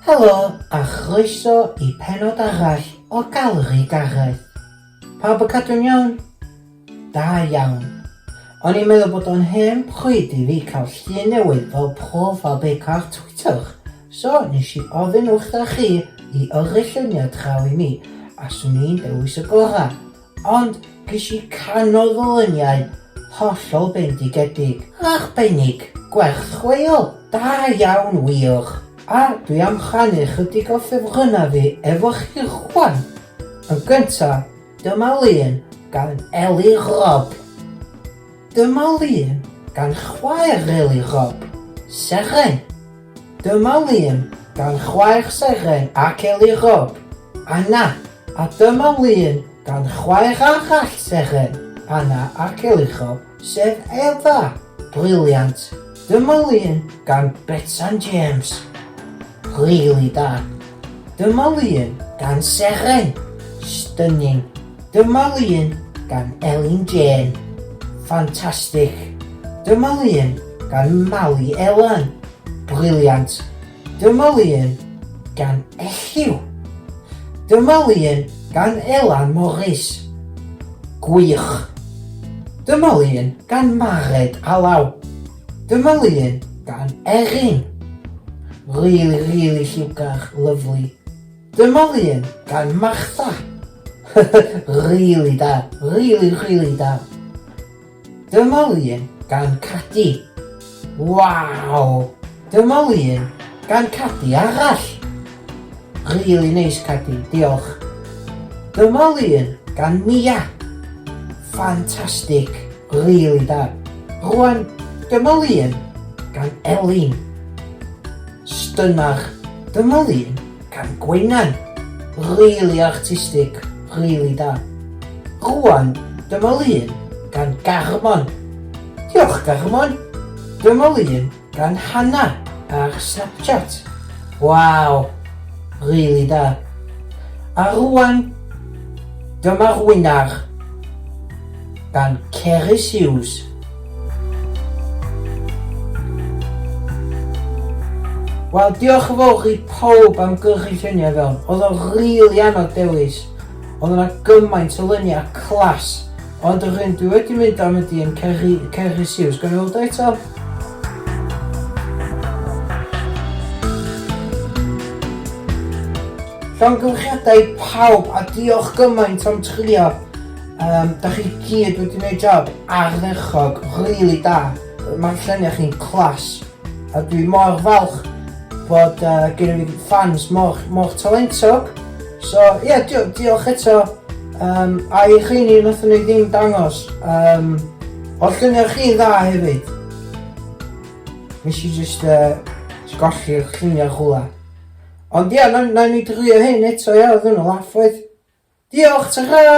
Helo a chroeso i pennod arall o Gallery Gareth. Pawb yn cadw'n iawn? Da iawn. O'n i'n meddwl bod o'n hen pryd i fi cael llun newydd fel prof a beic ar Twitter, so nes i ofyn wrtha chi i yrru lluniau draw i mi a swn i'n dewis y gorau. Ond ges i canol fy luniau hollol bendigedig. Arbennig! Gwerth chweil! Da iawn wych! A dwi am rhannu chydig o ffefrynnau fi efo chi rwan! Yn gynta, dyma lun gan Eli Rob. Dyma lun gan chwaer Eli Rob, Seren. Dyma lun gan chwaer Seren ac Eli Rob, Anna, a dyma lun gan chwaer arall Seren, Anna ac Eli Rob, sef Eva. Briliant! Dyma lun gan Betsan James. Rili da. Dyma lun gan Seren. Stunning. Dyma lun gan Elin Jên. Ffantastig! Dyma lun gan Mali Elan. Briliant! Dyma lun gan Elliw. Dyma lun gan Elan Morris. Gwych! Dyma lun gan Mared Alaw. Dyma lun gan Erin. Rili, rili lliwgar, lyfli. Dyma lun gan Martha! Rili da! Rili rili da! Dyma lun gan Cadi! Waw! Dyma lun gan Cadi arall! Rili neis Cadi, diolch! Dyma lun gan Mia! Ffantastig! Rili da! Rwan, dyma lun gan Elin! Stunach. Dyma ddyn gan Gwenan. Rili artistig, rili da. Rwan dyma lun gan Garmon. Diolch Garmon. Dyma lun gan Hannah ar Snapchat. Waw. Rili da. A rwan dyma'r winner gan Cerys Hughes. Wel diolch yn fawr i pawb am gyrchu lluniau fewn. Oedd o'n rili anodd dewis. Oedd yna gymaint o luniau clas. Ond yr un dwi wedi mynd am ydi yn Ceri, Ceri Siws. Gan i weld o eto. Llongyfarchiadau i pawb a diolch gymaint am trio. Um, da chi gyd wedi gwneud job ardderchog, really da. Mae'r lluniau chi'n clas. A dwi mor falch bod uh, gen i fi fans mor, mor talentog. So, ie, yeah, di diolch eto. Um, a i chi ni nath ni ddim dangos. Um, o lluniau chi dda hefyd. Nes i just uh, golli'r lluniau chwla. Ond ia, nawn ni drio hyn eto ia, oedd hwnnw laff oedd? Diolch, tara!